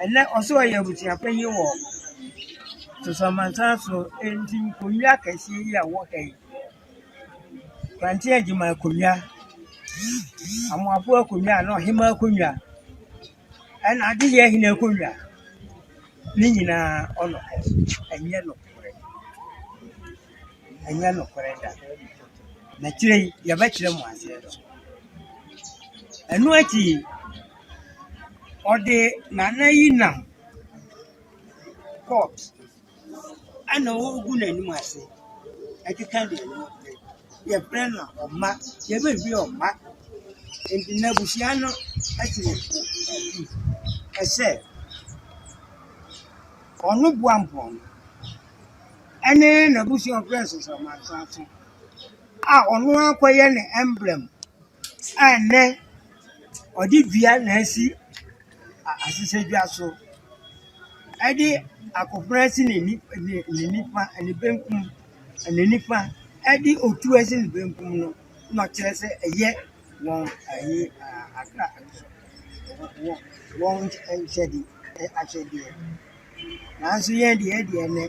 Ɛnnɛ ɔsɛ ɔyɛ abusua panyin wɔ Soso Amansan so, enti nkonnwa akɛse yi a ɛwɔ ha yi Kwantsen Agyeman akonnwa, Amoafo akonnwa anaa ɔhemaa akonnwa, ɛna adeyɛ hene akonnwa, ne nyinaa ɔnɔ hɔ. Ɛnyɛ nokorɛ. Ɛnyɛ nokorɛ da. Na akyire yi, yɛbɛkyerɛ mo aseɛ no. Ɛno akyi yi, ɔde Nana yi nam court. ɛna ɔgu n'anim ase ɛkeka deɛ no pɛ yɛfrɛ no ɔma yɛbɛhwie ɔma nti n'abusua no ɛte wɔ po akyi ɛsɛ ɔno boa mpɔn ɛne n'abusua a ɔfrɛ no Sosomankranso a ɔno ara kɔyɛ ne emblem a ɛnnɛ ɔde dua na asi. asesegya so de akofena asi ne ni ne ne nifa ne benkum ne nifa de otu asi ne benkum no na ɔkyerɛ sɛ ɛyɛ wɔn ayi aa atra wɔn wɔn nkyɛ nkyɛde akyɛdeɛ. Nanso yɛn deɛ, yɛn deɛ nnɛ,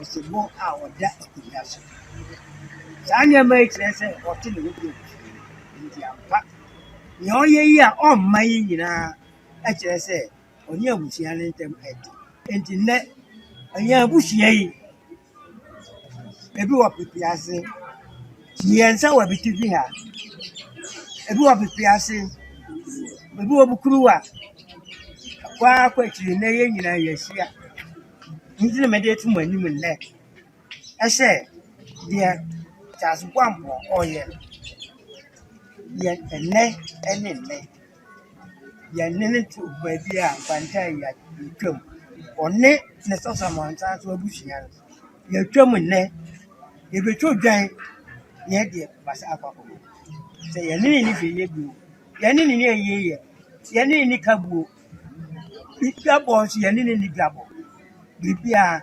ɔsebɔ a ɔda akonnwa so. Saa nneɛma yi kyerɛ sɛ ɔte ne ho bio. Nti ampa, nea ɔyɛ yi a ɔmma yi nyinaa kyerɛ sɛ ɔne abusua no ntam ɛte. Nti nnɛ, yɛn abusua yi, Ebi wɔ pepe ase. Mmiɛnsa wɔ abetifi ha. Ebi wɔ pepe ase. Ebi wɔ mu kuruwa. Kɔ ara kɔ akyiri nnɛ yɛn nyinaa yɛahyia. Nti na mede ato mo anim nnɛ sɛ deɛ Charles Boampɔ ɔyɛ no, yɛ ɛnnɛ ne nnɛ. Yɛnwene to baabi a kwanta yi a yɛtwam. Ɔne ne sasamansasa nso abusua no, yɛtwam nnɛ, yɛbɛtwa odwan na yɛde abasa akɔ akɔbɔ. Sɛ yɛne no nni hwee yɛ bio, yɛne no nni ayie yɛ, yɛne no nni ka bio, dwabɔ nso yɛne no nni dwabɔ. Biribiara.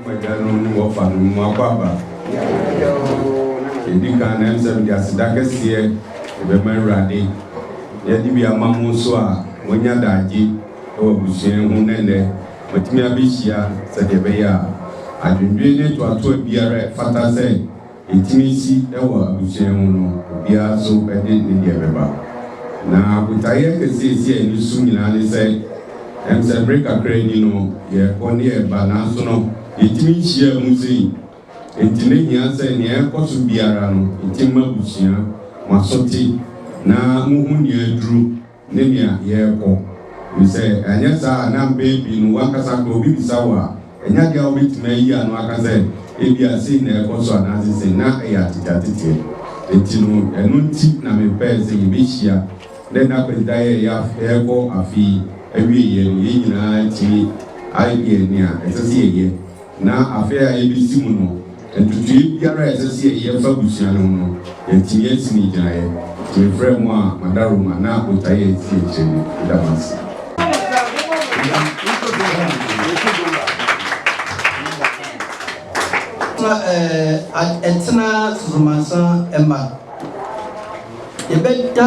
Mo agyanom ne wɔfa no, mo akɔ aba. Yɛdi kan na ɛm sɛ mede aseda kɛseɛ ɛbɛma Awurade na yɛde bi ama mo nso a moanya daagye wɔ abusua yi ho na nnɛ moatumi abɛhyia sɛdeɛ ɛbɛyɛ a adwendwen ne toatoa biara ɛfata sɛ Etumi si wɔ abusua mu no, obiara nso de ne deɛ bɛba. Na botaeɛ akɛseɛ a ɛsi yɛn ani so nyinaa ne sɛ, ɛm sɛ bere kakra ni no, yɛrekɔ ne yɛreba, nanso no, yɛtumi nhyiaa mu sei. Enti na ehia sɛ nea ɛrekɔ so biara no, yɛtumi ma abusua, mo aso te, na mohu nea aduru. ne nea yɛrekɔ, ɛfiri sɛ anyɛ saa a na mpɛn pii no w'ankasa koraa obi bisa wo a, ɛnyɛ ade a wobɛtumi ayi ano aka sɛ ebia sei na ɛrekɔ so anaasɛ sei, na ɛyɛ ateteateteɛ. Enti no, ɛno nti na mepɛɛ sɛ yɛbɛhyia. Nnɛ nna Kwasida yɛ yɛ afe, yɛrekɔ afe yi awieeɛ no, yɛn nyinaa atumi ayɛ nea ɛsɛ sɛ yɛyɛ. Na afe a ebesi mu no, ntotoeɛ biara a ɛsɛ sɛ yɛyɛ fa abusua no ho no, yɛatumi asi ne gyinaeɛ. Nti mefrɛɛ mo a mada Roma na botaeɛ a ɛsi akyire no, meda mo ase. Atena Susumansa mma yɛbɛda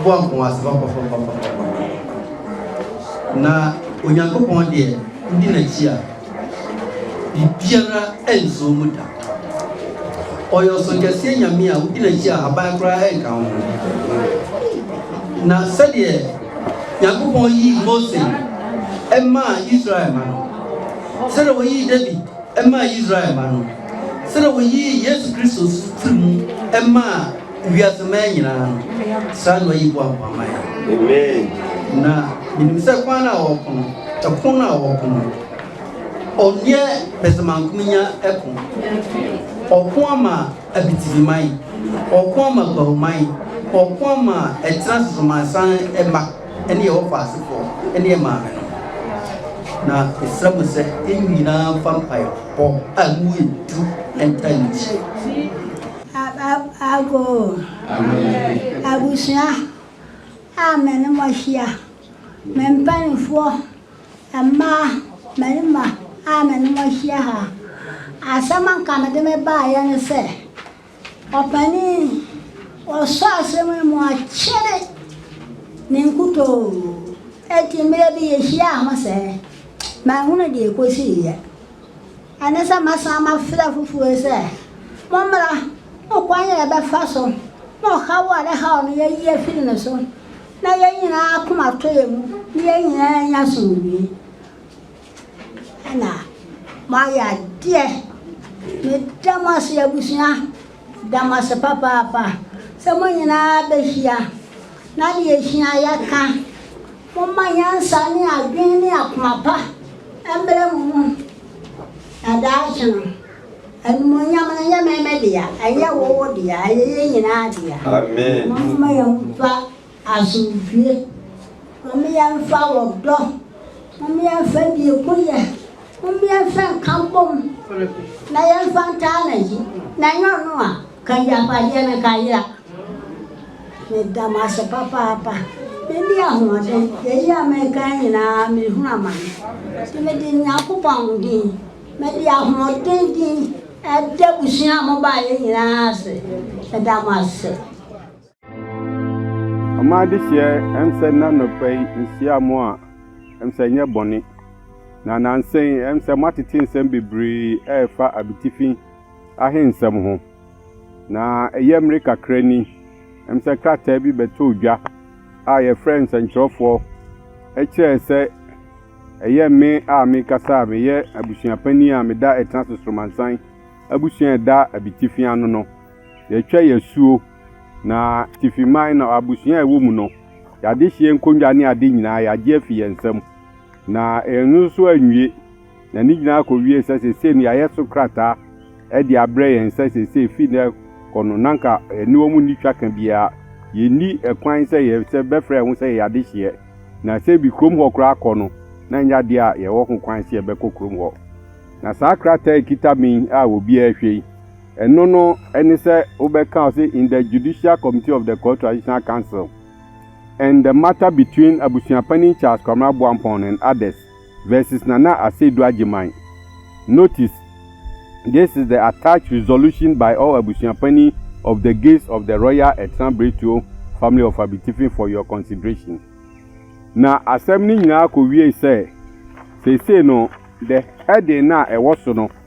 boampɔn ase papapapapapa na Onyankopɔn deɛ wodi n'akyi a. Biribiara nsɔɔ mu da. Ɔyɛ Ɔsonkɛseɛ Nyame a wogyina akyi a aban koraa nka wo ho. Na sɛdeɛ Nyankopɔn yii Mose maa Israel ma no, sɛdeɛ wɔyii David maa Israel ma no, sɛdeɛ wɔyii Yesu Kristo firi mu maa Wiase mmaa nyinaa no, saa nnɔ yi boaboa ma yɛn. Na menim sɛ kwan a wɔko no, ɛko no a wɔko no, ɔnyɛ pɛsɛmankomenya ɛko. Ɔko ama abitibiman, ɔko ama bahuman, ɔko ama ɛtena sosomansan mma ɛne ɛwɔ faasefoɔ ɛne ɛmaame no. Na mesrɛ mo sɛ ɛmu nyinaa mfa mpaebɔ a mu yɛ du ɛnta nkyɛ. Ago abusua a me ne mo ahyia, me mpanimfoɔ, mmaa, mmarima a me ne mo ahyia ha. Asɛm a nka mede me baeɛ ne sɛ, ɔpanin, ɔsɔ asɛm yi mu akyere ne nkutoo. Enti mmerɛ bi yɛhyiaa ho sɛ, manhunu deɛ ɛkɔsiiɛ. Ɛne sɛ mɛsan mafrɛ afoforɔ sɛ, Mommra, mo kwan a yɛbɛfa so na ɔhaw a ɛhaw no yɛayi afiri ne so, na yɛn nyinaa akoma atɔ yɛn mu, na yɛn nyinaa anya asomdwoeɛ. Ɛna moayɛ adeɛ. Meda mo ase abusua, meda mo ase papaapa sɛ mo nyinaa bɛhyia na deɛ ɛhia yɛka. Momma nyansa ne adwene ne akoma pa mmra mo mu, na daakye no, animuonyam no nyɛ me dea, ɛnyɛ wo dea, ɛyɛ yɛn nyinaa dea. Momma yɛmfa asomdwoe, momma yɛmfa ɔdɔ, momma yɛmfa biegunyɛ, momma yɛmfa nka bom, na yɛmfa ntaa n'akyi, na ɛnyɛ ɔno a. Ka agyapadeɛ no ka yera. Meda mo ase papaapa. Madi ahoɔden. Yei a mereka yi nyinaa merehunu amane. Nti mede Nyankopɔn din, mede ahoɔden din ɛda abusua a mobaeɛ nyinaa ase. Meda mo ase. Ɔmaa adehyeɛ ɛm sɛ na nɔpa yi nhyia mo a ɛm sɛ nyɛ bɔne. Na nansa yi ɛm sɛ moatete nsɛm bebree ɛrefa abitifi ahe nsɛm ho. Na ɛyɛ mmere kakra ni ɛm sɛ krataa bi bɛtɔɔ dwa a yɛfrɛ nsɛnkyerɛfoɔ ɛkyerɛɛ sɛ ɛyɛ me a mekasa a meyɛ abusua panin a meda ɛtena so soromansan abusua ɛda abitifi ano no. Yɛtwa yasuo. Na Tifi man no abusua a ɛwɔ mu no, y'adehyeɛ nkonnwa ne ade nyinaa y'agye afi yɛn nsam. Na ɛno nso anwie, na ne nyinaa kɔwie sɛ seesei no y'ayɛ so krataa de abrɛ yɛn sɛ seesei fi nnɛ kɔ no n'anka yɛne wɔn nni twaka biara, yɛnni kwan sɛ yɛ sɛ bɛfrɛ yɛn ho sɛ yɛyɛ adehyeɛ. Na sɛ bi kurom hɔ koraa kɔ no, na ɛnyɛ adeɛ a yɛwɔ ho kwan sɛ yɛbɛkɔ kurom hɔ. Na saa krataa a ɛkita me yi a obiara hwɛ yi, Ɛno no ne sɛ wobɛka ɔse in the judicial committee of the Kor Traditional Council and the matter between Abusuapanin Charles Kwamina Boampong and others versus Nana Aseidu Agyemang. Notice, This is the attached resolution by all Abusuapanin of the gates of the Royal Etran Bretuo family of Abitifi for your consideration. Na asɛm no nyinaa kɔwiei sɛ, seesei no, the heading no a ɛwɔ so no,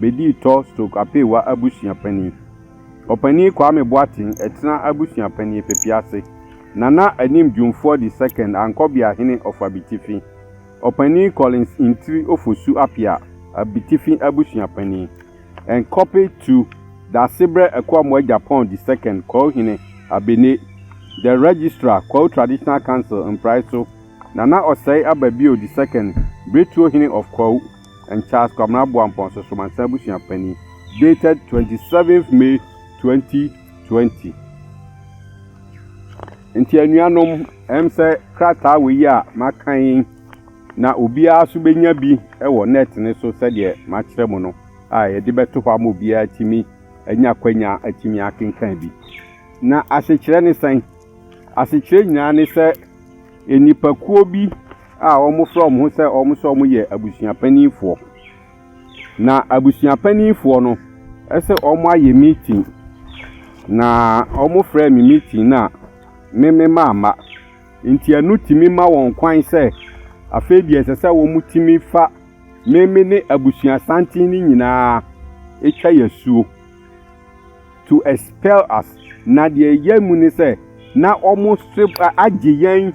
bɛdii Tolstoy Apeewa Abusua Panin, Ɔpanin Kwame Boateng Ɛtena Abusua Panin Pepe ase, Nana Anim Dwumfoɔ the Second Ankɔbea Hene of Abitifi, Ɔpanin Collins Ntiri Ofosu Appiah Abitifi Abusua Panin, and Copy to Daasebrɛ Akuamoah Agyapong the Second Kwahu Hene Abene, The Registrar Kwahu Traditional Council Mpraeso, Nana Ɔsɛe Aba Bio the Second Biretuo Hene of Kwahu. and Charles Kwabena Boampong Sosomansa Abusua Panin dated twenty seventh May twenty twenty. Nti anuanom, ɛm sɛ krataa wei yi a maka yi na obiara so bɛnya bi wɔ net no so sɛdeɛ makyerɛ mo no a yɛde bɛto hɔ ama obiara tumi anya kwanya atumi akenkan bi. Na asekyerɛ ne sɛn? Asekyerɛ nyinaa ne sɛ nnipakuo bi a wɔfrɛ wɔn ho sɛ wɔn sɛ wɔyɛ abusua mpanimfoɔ. Na abusua mpanimfoɔ no sɛ wɔayɛ meeting, na wɔfrɛɛ me meeting no a, me me mamma. Nti ɛno tumi ma wɔn kwan sɛ afei deɛ ɛsɛ sɛ wɔtumi fa me me ne abusua santen no nyinaa twa yɛ asuo. to expel us. Na deɛ ɛyɛ mu ne sɛ, na wɔsere agye yɛn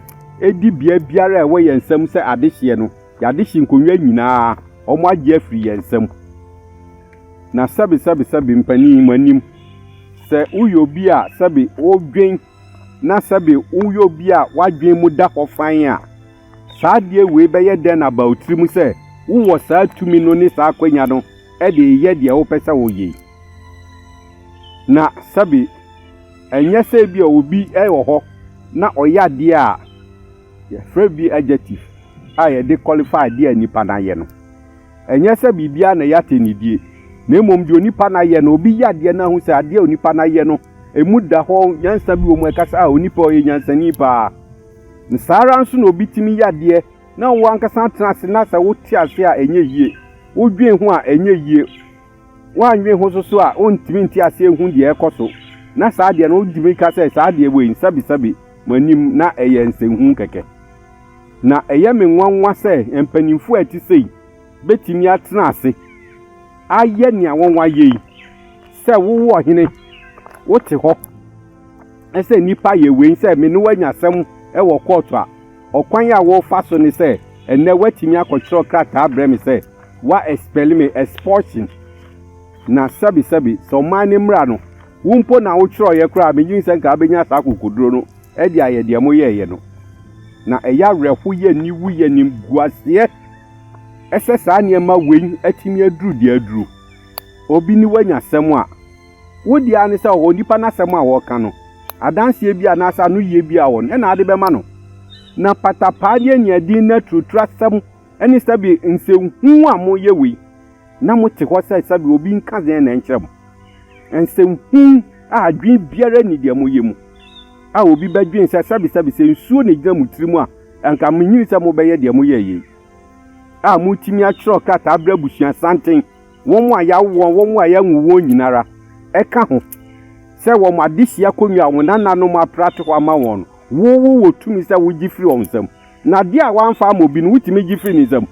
dibea biara a ɛwɔ yɛn nsam sɛ adehyeɛ no, yɛadehye nkonnwa nyinaa, wɔagye afiri yɛn nsam. Na sɛbe, sɛbe, sɛbe, mpanin, mo anim, sɛ woyɛ obi a sɛbe wodwen na sɛbe woyɛ obi a w'adwen mu da hɔ fann a, saa adeɛ wei bɛyɛ dɛn na aba wo tirim sɛ wowɔ saa tumi no ne saa akwanya no de reyɛ deɛ wopɛ sɛ woyɛ yi? Na sɛbe ɛnyɛ sɛ ebi a obi wɔ hɔ na ɔyɛ adeɛ a yɛfrɛ bi adjective a yɛde qualify adeɛ a nipa no ayɛ no. Ɛnyɛ sɛ biribiara na ɛyɛ atɛnidie, na mmom deɛ onipa no ayɛ no, obi yɛ adeɛ no ahu sɛ adeɛ a onipa no ayɛ no, ɛmu da hɔ, nyansa bi wɔ mu, ɛka sɛ a onipa ɔyɛ nyansani paa. Na saa ara nso na obi tumi yɛ adeɛ na wo ankasa atena ase na sɛ wote ase a ɛnyɛ yie, wodwen ho a ɛnyɛ yie. Woannwen ho so so a, worentumi nte aseɛ nhu deɛ ɛrekɔ so. Na saa deɛ no, wotumi ka sɛ, saa deɛ wei, nsɛbesɛbe mo anim, na ɛyɛ nsɛnhunu kɛkɛ. Na ɛyɛ me nwanwa sɛ mpanimfoɔ a ɛte sei bɛtumi atena ase ayɛ nea wɔayɛ yi, sɛ wowo ɔhene, wote hɔ sɛ nnipa yɛ wei, sɛ me ne wo anya asɛm wɔ kɔɔto a, Ɔkwan a wofa so ne sɛ ɛnnɛ woatumi akɔtwerɛ krataa abrɛ me sɛ wa expel me, expulsion, na sɛbesɛbe, sɛ ɔman no mmara no, wo mpo na wotwerɛeɛ koraa a, medwen sɛ nka wobɛnya saa akokoduro no de ayɛ deɛ moyɛeɛ no. Na ɛyɛ awerɛho, yɛ aniwu, yɛ animguaseɛ sɛ saa nneɛma wei atumi aduru deɛ aduru. Obi ne wo anya asɛm a. Wo dea ara ne sɛ onipa no asɛm a ɔreka no, adanseɛ bi anaasɛ anoyie bi a ɔwɔ no na ade bɛma no. Na patapaadeɛ aniaden no aturutur asɛm ne sɛbe nsɛnhu a moyɛ wei na mote hɔ sɛ sɛbe obi nka dzen na ɛnkyerɛ mo. Nsɛnhu a adwene biara nni deɛ moyɛ mu a obi bɛdwen sɛ sɛbe sɛbe sɛ nsuo na ɛgyina mo tiri mu a anka menyini sɛ mobɛyɛ deɛ moyɛeɛ yi a moretumi atwerɛ krataa abrɛ abusuasanten wɔn a yɛawo wɔn, wɔn a yɛanwo wɔn nyinara, ɛka ho, sɛ wɔn adesua akonnwa a wɔn nananom aprate hɔ ama wɔn no, wo, wowɔ tumi sɛ wogye firi wɔn nsam. Na adeɛ a wɔamfa ama obi no, wotumi gye firi ne nsam.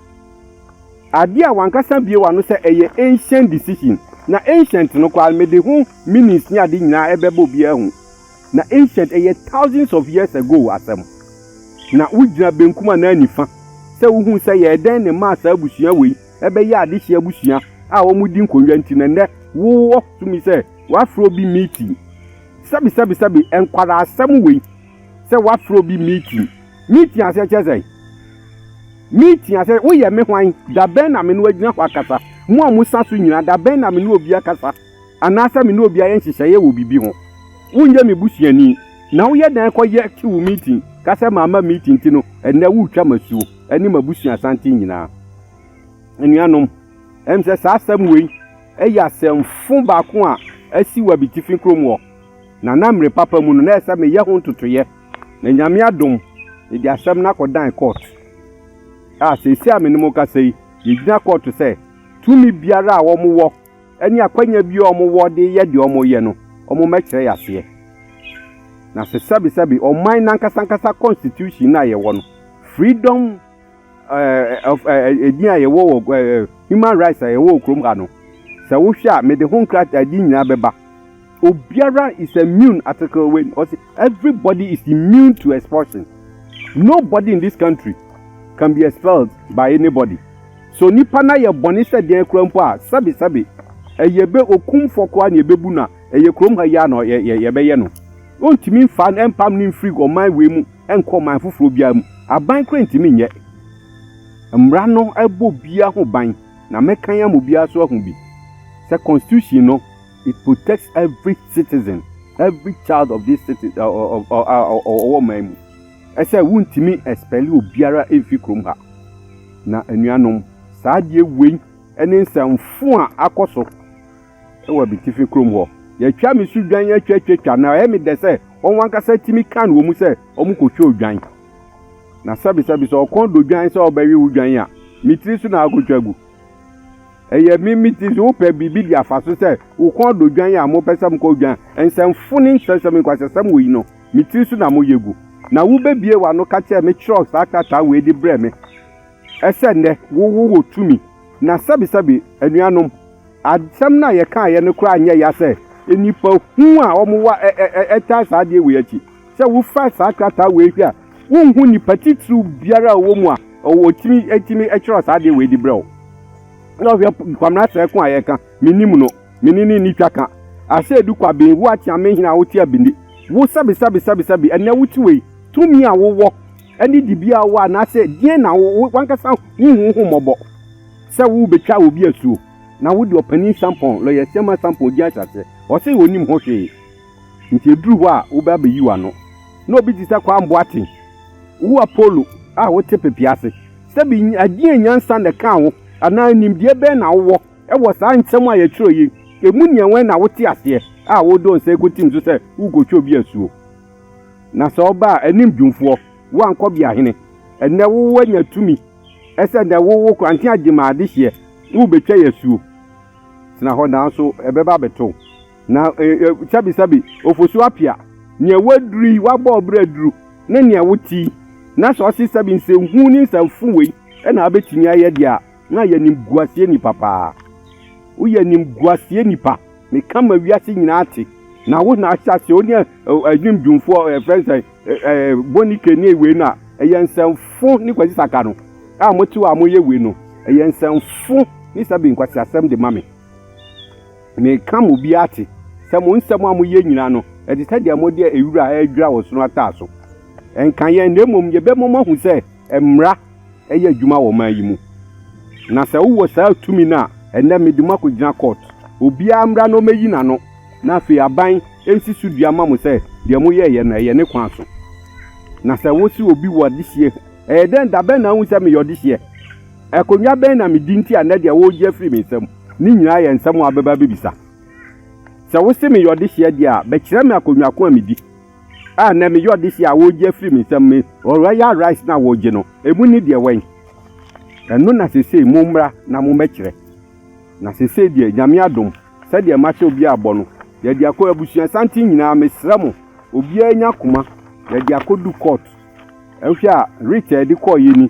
Adeɛ a wankasa bue w'ano sɛ ɛyɛ ancient decision, na ancient no koraa no, mede ho meanings ne ade nyinaa ɛbɛba obiara ahu. Na ancient, ɛyɛ thousands of years ago asɛm. Na wogyina benkum anaa nifa sɛ wohu sɛ yɛɛ dɛn ne maa saa abusua wei ɛbɛyɛ adehye abusua a wɔredi nkonnwa nti na nnɛ wowɔ tumi sɛ woafrɛ obi meeting. Sɛbesɛbesɛbe, nkwadaasɛm wei sɛ woafrɛ obi meeting. Meeting aseɛ kyerɛ sɛn? Meeting aseɛ, woyɛ me hwan? Da bɛn na me ne wagyina hɔ akasa? Mo a mosa so nyinaa, da bɛn na me ne obi akasa? anaasɛ me ne obi ayɛ nhyehyɛeɛ wɔ biribi ho. Wonyɛ me busuani, na woyɛ dɛn kɔyɛ te wo meeting ka sɛ mamma meeting nti no ɛnnɛ woretwa m'asuo ne m'abusua santen nyinaa? Anuanom, ɛwom sɛ saa asɛm wei yɛ asɛmfo baako a asi wɔ abitifi kurom hɔ, na na mmere papa mu no na ɛsɛ sɛ meyɛ ho ntotoeɛ, na Nyame adom mede asɛm no akɔdan court a seesei a me ne mo rekasa yi yɛgyina court sɛ tumi biara a wɔwɔ ne akwanya bi a wɔwɔ de yɛ deɛ wɔyɛ no, wɔmmɛkyerɛ yɛn aseɛ. Na sɛ sɛbesɛbe ɔman no ankasa ankasa constitution no a yɛwɔ no, freedom ɛɛ of ɛɛ din a yɛwɔ wɔ ɛɛ human rights a yɛwɔ wɔ kurom ha no, sɛ wohwɛ a, mede ho nkratadeɛ nyinaa bɛba. Obiara is immune article wei ɔsi every body is immune to expulsion no body in this country can be expelled by any body so nipa na yɛ bɔne sɛ deɛn kura mpo a sɛbi sɛbi ɛyɛ bɛ okum fɔ kɔ a na yɛ bɛ bu na ɛyɛ kurom ha yia na yɛ yɛ yɛ bɛ yɛ no ɔntumi nfa ɛmpam ne nfiri ɔman wei mu ɛnkɔ ɔman foforɔ biara mu aban kura ntumi nyɛ mmara no ɛbɔ biara ho ban na mɛkan ama obiara so ahu bi sɛ constitution no. It protects every citizen, every child of this city a ɔwɔ ɔman mu. Ɛsɛ wontumi expel obiara mfi kurom ha. Na anuanom, saa adeɛ wei ne nsɛmfo a akɔ so wɔ abitifi kurom hɔ. Yɛatwa me so dwan atwatwatwa, na ɛyɛ me dɛ sɛ wɔn ankasa tumi kan wɔn mu sɛ wɔkɔtwa odwan. Na sɛbesɛbe sɛ ɔkɔn dɔ dwan sɛ ɔbɛwe wo dwan a, me tiri so na akɔtwa agu. Ɛyɛ me me ti so. Wopɛ biribi de afa so sɛ wo kɔn dɔ dwan a mopɛ sɛ mokɔ dwan. Nsɛmfo ne nkyerɛwsɛm ne nkwaseasɛm wɔ yi no, me tiri so na moyɛ gu. Na wubebue w'ano ka kyerɛ me kyerɛw saa krataa wei de brɛ me sɛ nnɛ wo wo wɔ tumi. Na sɛbesɛbe, anuanom, asɛm no a yɛkaeɛ no koraa nyɛ ya sɛ nnipa hu a wɔwɔ ɛ ɛ ɛtaa saa adeɛ wei akyi. Sɛ wofa saa krataa wei hwɛ a, wonhu nnipa titiriw biara a ɔwɔ mu a ɔtumi tumi kyerɛw saa adeɛ wei de brɛ wo. Na ɔhwɛ Kwamena Sɛɛko a yɛka, mennim no, me ne no nni twa ka. Aseedu Kwabin, wo Akyeamehene a wote Abindi, wo sɛbesɛbesɛbesɛbe, ɛnnɛ wote wei, tumi a wowɔ ne dibea a wowɔ anaasɛ deɛn na w'ankasa wonhu wo ho mmɔbɔ sɛ wobɛtwa obi asuo na wode Ɔpanin Sampɔn, Lɔya Siaman Sampɔn din ahyɛ aseɛ? Ɔse ɔnnim ho hwee. Ntsi edur hɔ a wobɛ abeyi w'ano, na obi tse sɛ Kwaa Mboatse, wo Apollo a wotse pepea ase, sɛ bi agyea nyansa na ɛkaa wo, anaa nyimdeɛ bɛn na wowɔ wɔ saa nsɛm a yɛkyerɛw yi mu nea wɛn na wotse aseɛ a wode wo nsa ekotsim so sɛ worekotwa obi asuo? Na sɛ ɔba a, anim dwumfoɔ, woankɔ bea hene, ɛnnɛ wo wanya tumi sɛ nɛ wo wo korantse agye ma adehyeɛ, na wobetwa yɛ asuo? Tsena hɔ, naaso ɛbɛba abɛto wo. Na sɛbisɛbi, ofosu apia nea woaduru yi, woabɔ ɔbra aduru ne nea wote yi, na sɛ ɔse sɛbi nsɛnhunu ne nsɛmfo wei na abɛtumi ayɛ deɛ a, na ayɛ animguaseɛ nipa paa. Woyɛ animguaseɛ nipa, meka ma wiase nyinaa ate. Na wo na ahyɛ aseɛ, wo ne Adwim Dwumfoɔ ɛfrɛ no sɛ Boni K ne wei no a, ɛyɛ nsɛmfo ne Kwasi Saka no a mote hɔ a moyɛ wei no, ɛyɛ nsɛmfo ne sɛbi nkwaseasɛm de ma me. Mereka mo bi ate sɛ mo nsɛm a moyɛ nyina no, ɛte sɛ deɛ mode wira a ɛredwira ɔsono ataa so. Ɛnka yɛn, na mmom yɛbɛma moahu sɛ mmara yɛ adwuma wɔ ɔman yi mu. Na sɛ wowɔ saa tumi no a, ɛnnɛ mede mo akɔgyina kɔɔt. Obiara mmra na ɔmmɛyi n'ano, na afei aban nsi so dua mma mo sɛ deɛ moyɛeɛ no, ɛyɛ ne kwan so. Na sɛ wose obi wɔ adehyeɛ, ɛyɛ dɛn, da bɛn na ahu sɛ meyɛ ɔdehyeɛ? Akonnwa bɛn na midi nti a nnɛ deɛ woregye afiri me nsam no nyinaa yɛ nsɛm a wobɛba abɛbisa? Sɛ wose meyɛ ɔdehyeɛ deɛ a, bɛkyerɛ me akonnwa ko a medi a nnɛ meyɛ ɔdehyeɛ a woregye afiri me nsam me Royal Rice no a woregye no, ɛmu ne deɛ wɛn? Ɛno na seesei mommra na mommɛkyerɛ. Na seesei deɛ, Nyame adom, sɛdeɛ mahyɛ obiara bɔ no, yɛde akɔ abusuasanten nyinaa, mesrɛ mo, obiara nya koma, yɛde akɔdu kɔɔto. Wohwɛ a, writ a yɛde kɔeɛ ni.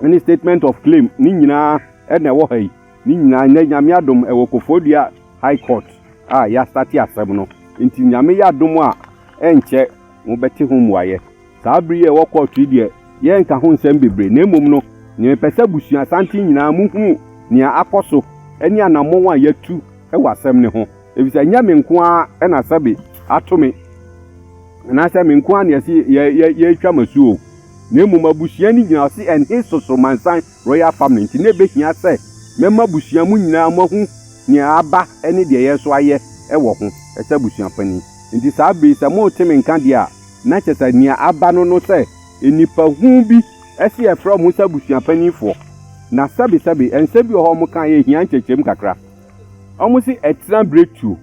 ne statement of claim ne nyinaa ɛna ɛwɔ ha yi ne nyinaa nnɛ nyame adom ɛwɔ kofodua high court a yɛastate asɛm no nti nyame yɛ adom a ɛnkyɛ mobɛte ho mmuayɛ saa bere yi a ɛwɔ court yi deɛ yɛnka ho nsɛm bebree na mmom no ne mepɛ sɛ busua santen nyinaa mohunu nea akɔ so ne anammɔn a yɛatu ɛwɔ asɛm ne ho efisɛ nyɛ me nko ara ɛna sɛbe ato me anaasɛ me nko ara na yɛsi yɛtwa m'asuo na mmom abusua no gyina hɔ se ɛnhe Sosomansan Royal Family nti na ɛbɛhia sɛ mɛma abusua mo nyinaa moahu nea aba ne deɛ yɛreso ayɛ wɔ ho sɛ abusua panin. Nti saa bere yi sɛ morete me nka deɛ a, na kyerɛ sɛ nea aba no no sɛ nnipa huu bi se yɛfrɛ wɔn sɛ abusua paninfoɔ. Na sɛbe sɛbe nsɛm bi wɔ hɔ a wɔkaeɛ a ɛhia nkyerɛkyerɛmu kakra. Wɔse ɛtena berɛ tuo.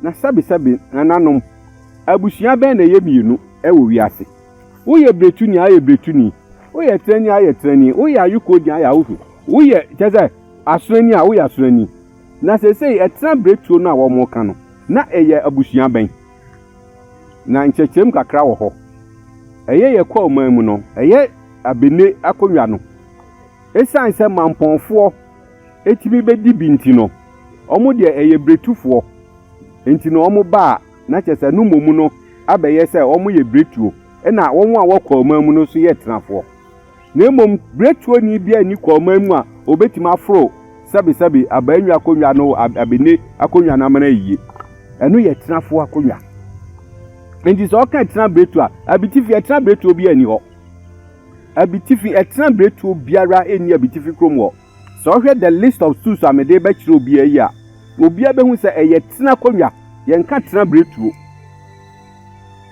Na sɛbe sɛbe nananom, abusua bɛn na ɛyɛ mmienu wɔ wiase? Woyɛ bretuni a ayɛ bretuni. Woyɛ trani a ayɛ trani. Woyɛ ayukoodin a ayɛ awofi. Woyɛ kyɛ sɛ asorani a woyɛ asorani. Na sesei ɛtena bretuo no a wɔka no na ɛyɛ abusua bɛn? Na nkyerɛkyerɛm kakra wɔ hɔ. Ɛyɛ yɛ kwa ɔman mu no, ɛyɛ abene akonnwa no. Esiane sɛ mampɔnfoɔ ɛtumi bɛdi bi nti no, wɔn deɛ ɛyɛ bretufoɔ nti na wɔn baa na kyerɛ sɛ no mmom no abɛyɛ sɛ wɔyɛ biretuo, ɛna wɔn a wɔ kɔɔman mu no nso yɛ tenafoɔ. Na mmom biretuoni biara nni kɔɔman mu a ɔbɛtumi aforo sɛbesɛbe abaanwi akonnwa no abene akonnwa no amena ayie. Ɛno yɛ tenafoɔ akonnwa. Nti sɛ ɔka ɛtena biretuo a, abitifi ɛtena biretuo biara nni hɔ. Abitifi ɛtena biretuo biara nni abitifi kurom hɔ. Sɛ ɔhwɛ The List of Schools a mede rebɛkyerɛ obiara yi a, obiara behu sɛ ɛyɛ tena akonnwa, yɛnka tena abiretuo.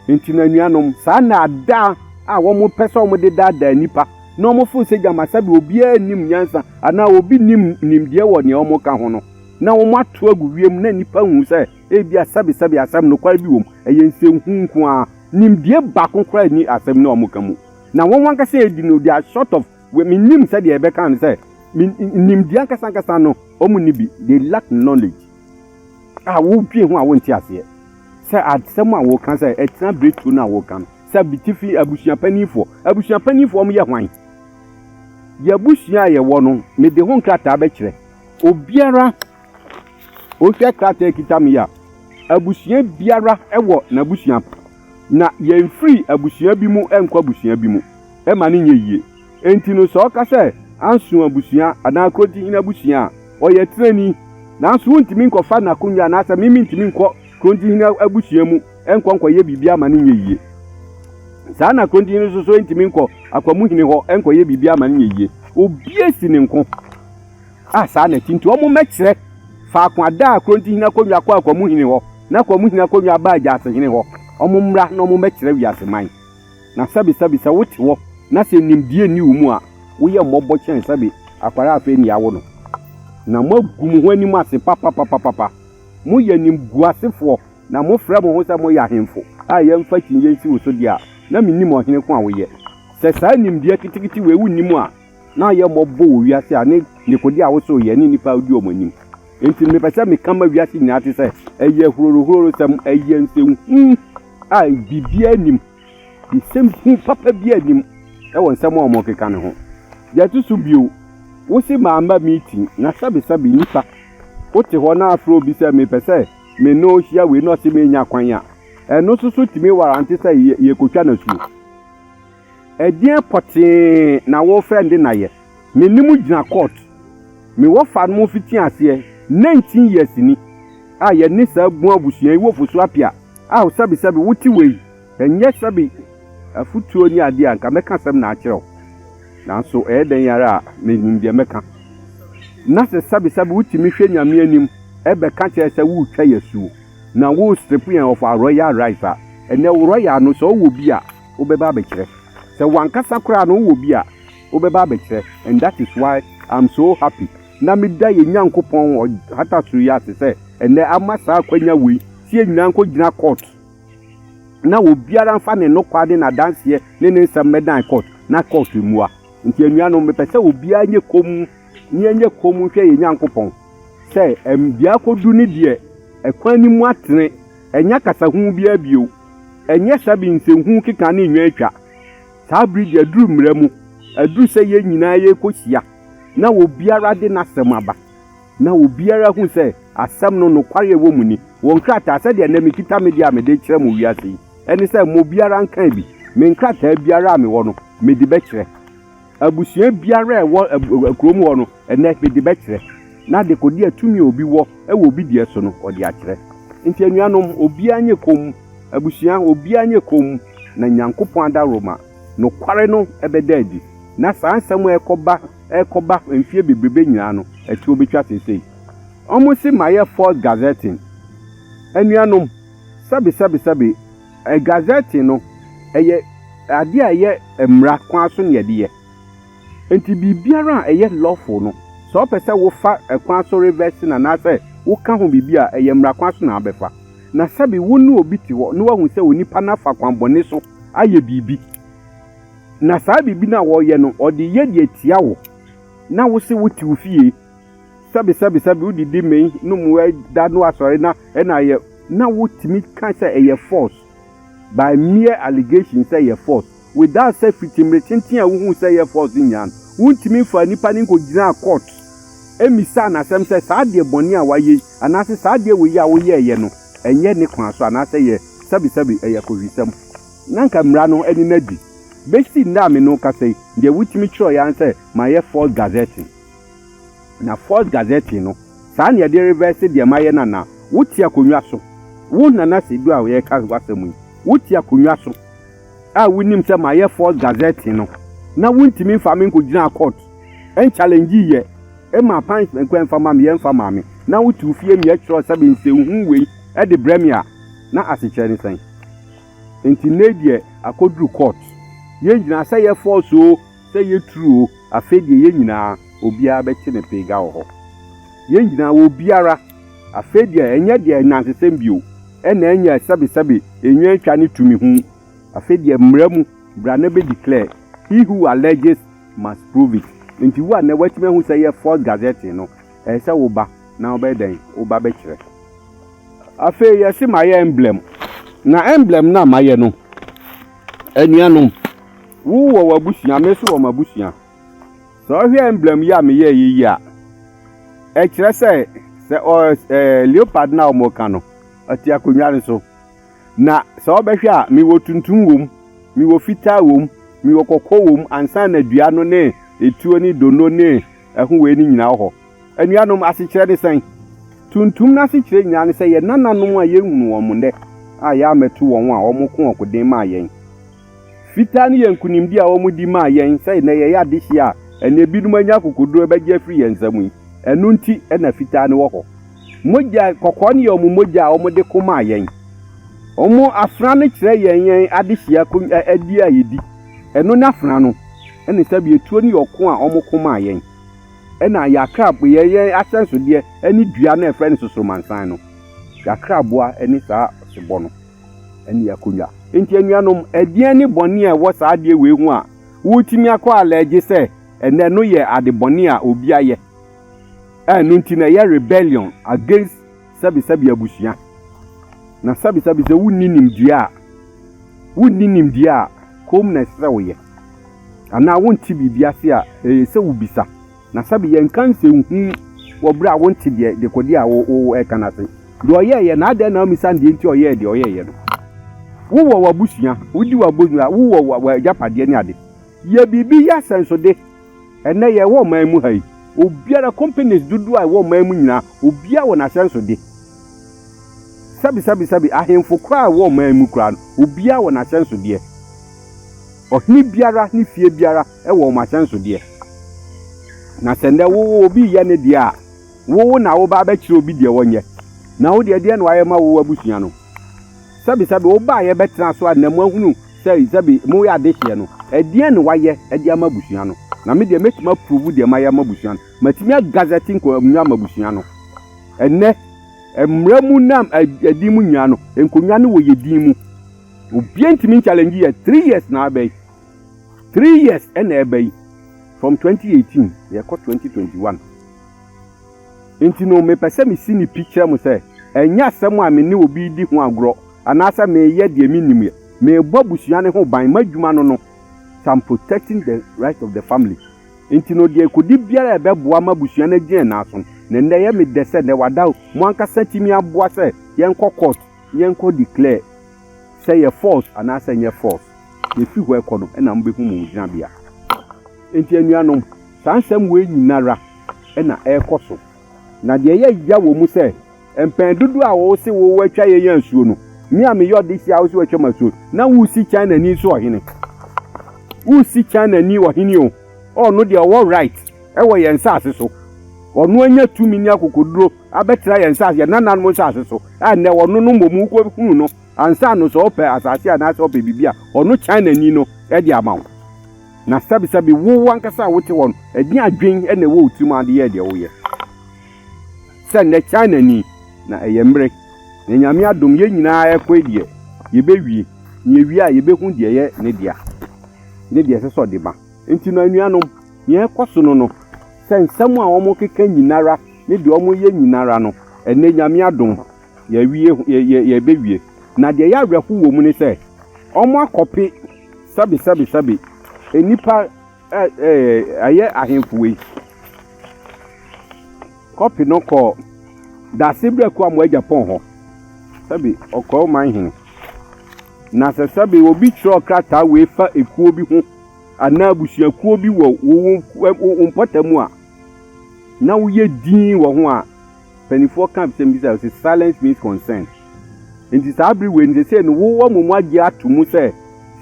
Enti no anuanom, saa nnaadaa a wɔpɛ sɛ wɔde daadaa nnipa na wɔforo sɛ gyama sɛdeɛ obiara nnim nyansa anaa obi nnim nimdeɛ wɔ nea wɔka ho no na wɔato agu wiem na nnipa hu sɛ ebia sɛbesɛbe asɛm nokware bi wom, ɛyɛ nsɛnhunu nko ara. Nimdeɛ baako koraa nni asɛm no a wɔka mu, na wɔn ankasa yɛ denoodea, short of. Minnim sɛdeɛ yɛbɛka no sɛ nimdeɛ ankasa ankasa no wɔn nni bi, they lack knowledge a wodwen ho a wonte aseɛ sɛ asɛm a wɔka sɛ ɛtena bere tuo no a wɔka no sɛ bitifi abusua panimfoɔ abusua panimfoɔ wɔn yɛ hwan yɛ abusua a yɛwɔ no mede ho nkrataa bɛkyerɛ obiara wohwɛ krataa kita me a abusua biara wɔ n'abusua Na yɛmfiri abusua bi mu nkɔ abusua bi mu mma no nyɛ yie. Enti no, sɛ ɔka sɛ Anson abusua anaa Kurontihene abusua a, ɔyɛ tenani. Nanso wontumi nkɔfa n'akonnwa anaasɛ me mentumi nkɔ Kurontihene abusua mu nkɔ nkɔyɛ biribiara mma no nyɛ yie. Saa ara na Kurontihene nso so ntumi nkɔ Akwamuhene hɔ nkɔyɛ biribiara mma no nyɛ yie. Obiara si ne nko. A Saa na ɛte nti, wɔmmɛkyerɛ faako a daa Korintohene akonnwa kɔ akwamu hene hɔ, na akwamu hene akonnwa ba Agyase hene hɔ. Wɔmmra na wɔmmɛkyerɛ wiase man. Na sɛbe, sɛbe, sɛ wote hɔ, na sɛ nimdeɛ nni wo mu a, woyɛ mmɔbɔ kyɛn sɛbe akwadaa a afei na yɛawo no. Na moagu mo ho anim ase papapapapa. Moyɛ animguasefoɔ, na mofrɛ mo ho sɛ moyɛ ahemfo, a yɛmfa kyiniiɛ nsi wo so deɛ a, na mennim ɔhene ko a woyɛ. Sɛ saa nimdeɛ ketekete wei wonni mu a, na ɔyɛ mmɔbɔ wɔ wiase a ne dekode a woso yɛ ne nnipa a wodi wɔn anim. Enti no mepɛ sɛ meka ma wiase nyinaa te sɛ ɛyɛ hurohurohurosɛm, ɛyɛ nsɛnhu a biribiara nnim, nsɛm hu papa biara nnim wɔ nsɛm a wɔkeka no ho. Deɛ ɛto so bio, wose mamma meeting, na sɛbesɛbe nnipa, wote hɔ na afrɛ obi sɛ mepɛ sɛ me ne wo hyia wei na ɔse menya kwan a, ɛno nso so tumi warrante sɛ yɛkɔtwa no asuo. Ɛdeɛn pɔtee na worefrɛ nde na yɛ? Me ne mo gyina court. Me wɔfa no mo fiti aseɛ 19 years ni a yɛ ne saa bun abusua yi wɔ Fosu Apia a sɛbi sɛbi wo te wei nyɛ sɛbi afutuo ne adeɛ a nka mɛka asɛm na akyerɛ wo nanso ɛyɛ dɛn ara a me nim deɛ mɛka na sɛ sɛbi sɛbi wo tumi hwɛ nyame anim ɛbɛ ka kyerɛ sɛ wo twa yɛ suo na wo strip yɛn of our royal rights a ɛnɛ wo royal no sɛ ɔwɔ bi a wobɛba abɛkyerɛ. Sɛ wankasa koraa no wowɔ bi a wobɛba abɛkyerɛ and that is why I'm so happy na meda yɛn Nyankopɔn ɔhata soro yi ase sɛ ɛnnɛ ama saa akwanya wei sɛ yɛn nyinaa nkɔgyina court na obiara mfa ne nokwa ne n'adanseɛ ne ne nsɛm mmɛdan court na court mmua. Nti anuanom mepɛ sɛ obiara nyɛ komm ne ɛnyɛ komm nhwɛ yɛn Nyankopɔn sɛ ɛm deɛ akɔdu ne deɛ ɛkwan no mu atene ɛnyɛ akasahunu biara bio. Ɛnyɛ sa bi nsɛnhunu keka ne nnwan twa. Saa bere de aduru mmara mu, aduru sɛ yɛn nyinaa yɛrekohyia na obiara de n'asɛm aba, na obiara ahu sɛ asɛm no nokware a ɛwɔ mu ni. Wɔ nkrataa, sɛdeɛ ɛnnɛ mekita me deɛ a mede rekyerɛ mo wiase yi, ɛne sɛ mma obiara nkan bi. Me nkrataa biara a mewɔ no, mede bɛkyerɛ. Abusua biara a ɛwɔ kurom hɔ no, ɛnnɛ mede bɛkyerɛ, na dekode a tumi a obi wɔ wɔ obi deɛ so no, ɔde akyerɛ. Enti anuanom, obiara nyɛ komm, abusua, obiara nyɛ komm, na Nyankopɔn adaworoma, nokware no, bɛda adi. Na saa nsɛm a ɛrekɔba, ɛrekɔba, mfeɛ bebrebe nyinaa no, ɛtoɔ bɛtwa seesei. Wɔse mayɛ false gazetting. Anuanom, sɛbe, sɛbe, sɛbe. Gazette no yɛ adeɛ a ɛyɛ mmara kwan so na yɛde yɛ. Nti biribiara a ɛyɛ lawful no, sɛ wopɛ sɛ wofa kwan so reverse no anaasɛ woka ho biribi a, ɛyɛ mmara kwan so na wabɛfa. Na sɛbe wo ne obi te hɔ na wahu sɛ onipa no afa kwan bɔne so ayɛ biribi, na saa biribi no a ɔreyɛ no, ɔde reyɛ de atia wo, na wo se wote wo fie, Sɛbe sɛbe sɛbe wode di me no mu da no asɔre na ɛna ayɛ na wotumi ka sɛ ɛyɛ false by mere allegation sɛ ɛyɛ false without sɛ fiti mmere tenten a wohuu sɛ ɛyɛ false nyinaa no wontumi mfaa nipa no nkogyinaa court mmisaa no asɛm sɛ saa adeɛ bɔne a wayɛ yi anaasɛ saa adeɛ wei a woyɛɛyɛ no ɛnyɛ ne kwan so anaasɛ ɛyɛ sɛbe sɛbe ɛyɛ kowisɛm na nka mmara no ani no adi bɛsi nnɛ a me ne wo kasa yi deɛ wotumi kyerɛeɛ ara sɛ mayɛ false gazetting. Na Force Gazette no, saa na yɛde revɛɛse deɛ mayɛ no anaa? Wote akonnwa so, wo Nana Seidu a yɛreka w'asɛm yi, wote akonnwa so a wonim sɛ mayɛ Force Gazette no, na wontumi mfaa me nkɔgyinaa court nchallengee yɛ mmaa punishment kwan mfa mma me, yɛmfa mmaa me, na wote wo fie ne yɛtwerɛ sɛ me nsɛnhunu wei de brɛ me a, na asekyerɛ ne sɛn? Nti nnɛ yi deɛ akɔduru court, yɛn nyinaa, sɛ yɛ Force oo, Sɛ yɛ true o afei deɛ yɛ nyinaa obiara bɛte ne pee ga wɔ hɔ yɛ nyinaa wɔ obiara afei deɛ ɛnyɛ deɛ nansesɛm bio ɛna ɛnyɛ sɛbe sɛbe enwia ntwa ne tumi ho afei deɛ mmra mu bra na bɛ declare he who alleges must prove it nti wo a nɛ watumi ahu sɛ yɛ false gazetting no ɛyɛ sɛ wo ba na wobɛyɛ dɛn wo ba bɛkyerɛ afei yɛ se ma yɛ emblem na emblem no a ma yɛ no anuanom. Wo wɔ w'abusua, me nso wɔ m'abusua. Sɛ ɔhwɛ emblem yi a meyɛɛ yɛ yi a, ɛkyerɛ sɛ sɛ ɔ ɛɛ leopard no a wɔka no, ɔte akonnwa no so. Na sɛ ɔbɛhwɛ a, mewɔ tuntum wom, mewɔ fitaa wom, mewɔ kɔkɔɔ wom, ansa na dua no ne etuo ne dono ne ɛho wei no nyinaa wɔ hɔ. Anuanom, asekyerɛ ne sɛn? Tuntum no asekyerɛ nyinaa ne sɛ yɛn nananom a yɛnhunu wɔn nnɛ a yɛammɛto wɔn a wɔko ɔkoden maa yɛn Fitaa no yɛ nkonimdi a wɔde maa yɛn sɛ nnɛ yɛyɛ adehye a ɛne ebinom anya akokoduru abɛgye afiri yɛn nsam yi. Ɛno nti na fitaa no wɔ hɔ. Mogya, kɔkɔɔ no yɛ wɔn mogya a wɔde ko maa yɛn. Wɔn afena no kyerɛ yɛn yɛn adehye adi a yedi. Ɛno ne afena no, ɛne sɛbea tuo no yɛ ɔko a wɔko maa yɛn. Ɛna yɛakra yɛn yɛn ahyɛnsodeɛ ne dua no a yɛfrɛ no sosomansan no. Yɛakra aboa ne saa ɔsebɔ no. ne akonnwa. Enti anuanom, ɛdeɛn ne bɔne a ɛwɔ saa adeɛ wei ho a wotumi akɔ alɛgye sɛ ɛnnɛ no yɛ ade bɔne a obi ayɛ a ɛno nti no ɛyɛ rebellion against sɛbesɛbe abusua? Na sɛbesɛbe sɛ wonni nimdeɛ a, wonni nimdeɛ a, komm na ɛsɛ sɛ woyɛ. Anaa wonte biribi ase a, ɛyɛ sɛ wobisa. Na sɛbe yɛnnka nsɛnhunu wɔ bere a wonte deɛ dekode a woreka no ase. Deɛ ɔyɛeɛ, na adɛn na wommisa no deɛ nti a ɔyɛɛ deɛ ɔyɛeɛ no? Wowɔ w'abusua, wodi w'abusua, wowɔ w'agyapadeɛ ne ade. Yɛ biribi yɛ asɛnsode. Ɛnnɛ yɛwɔ ɔman mu ha yi, obiara, companies dodoɔ a ɛwɔ ɔman mu nyinaa, obiara wɔ n'ahyɛnsode. Sɛbe, sɛbe, sɛbe, ahemfo koraa a ɛwɔ ɔman mu koraa no, obiara wɔ n'ahyɛnsodeɛ. Ɔhene biara ne fie biara. wɔ wɔn asɛnsodeɛ. Na sɛ nnɛ wo obi reyɛ ne deɛ a, wo na woba abɛkyerɛ obi deɛ ɔnyɛ. Na wo deɛ, deɛ na wayɛ ma wo abusua no? Sɛbesɛbe wobaeɛ bɛtena so a na moahunu sɛ sɛbe moyɛ adehyeɛ no, ɛdeɛn na wayɛ de ama abusua no? Na me deɛ, mɛtumi aprovu deɛ mayɛ ama abusua no. Matumi agazɛte nkonnwa ama abusua no. Ɛnnɛ, mmara mu na ɛdin mu nyinaa no, nkonnwa no wɔ yɛn din mu. Obiara ntumi nkyalɛngye yɛn. Three years na aba yi. Three years na ɛba yi from twenty eighteen na yɛkɔ twenty twenty one nti no mepɛ sɛ mesi no pi kyerɛ mo sɛ ɛnyɛ asɛm a me ne obi redi ho agorɔ anaasɛ mereyɛ deɛ mennim yɛ. Merebɔ abusua no ho ban, m'adwuma no no sɛ I'm protecting the right of the family nti no deɛ ɛkɔdi biara a ɛbɛboa ma abusua no agyina ɛnan so no na nnɛ ɛyɛ me dɛ sɛ nnɛ wada o mo ankasa tumi aboa sɛ yɛnkɔ court yɛnkɔ declare Sɛ yɛ force anaasɛ nyɛ force, yɛfi hɔ ɛkɔ no na mobɛhu mo gyinabea. Enti anuanom, saa nsɛm wei nyinara na ɛrekɔ so. Na deɛ ɛyɛ ya wɔ mu sɛ, mpɛn dodoɔ a wo se wo atwa yɛn asuo no, me a meyɛ ɔdehye a wo se watwa m'asuo no, na wo si China ani nso ɔhene. Wo si China ni ɔhene o, ɔno deɛ ɔwɔ right wɔ yɛn nsaase so, ɔno anya tumi ne akokoduro, abɛtena yɛn nsase, yɛn nananom nsase so, a nnɛ ɔno no mmom wokɔhunu no ansa no sɛ ɔpɛ asase anaasɛ ɔpɛ biribi a, ɔno Chinani no de ama wo. Na sɛbesɛbe wo ankasa a wote hɔ no, ɛdeɛn adwene na ɛwɔ wo tirim a de yɛ deɛ woyɛ? Sɛ nnɛ Chinani, na ɛyɛ mmere, na Nyame adom yɛn nyinaa rekɔe deɛ, yɛbɛwie, na yɛwie a yɛbɛhu deɛ ɛyɛ ne dea, ne deɛ ɛsɛ sɛ ɔde ma. Enti no anuanom, deɛ ɛrekɔ so no no, sɛ nsɛm a wɔkeka nyinara, ne deɛ ɔmo yɛ nyinara no, ɛnnɛ Nyame adom, yɛawie, yɛɛbɛwie. Na deɛ ɛyɛ awerɛhow wɔ mu ne sɛ, ɔmo akɔpe sɛbe sɛbe sɛbe nnipa ɛyɛ ahemfo wei, kɔpe no kɔɔ Dase Berɛ Kuamoa Gyapɔn hɔ, sɛbe ɔkɔɔ ɔman hene. Na sɛ sɛbe obi kyerɛw krataa wei fa ekuo bi ho anaa abusuakuo bi wɔ wo mpɔtam a, na woyɛ dinn wɔ ho a, mpanimfoɔ ka sɛm bi sɛ, silence means consent. Nti saa bere wei no sɛ sɛ no wowɔ mo mu agye ato mu sɛ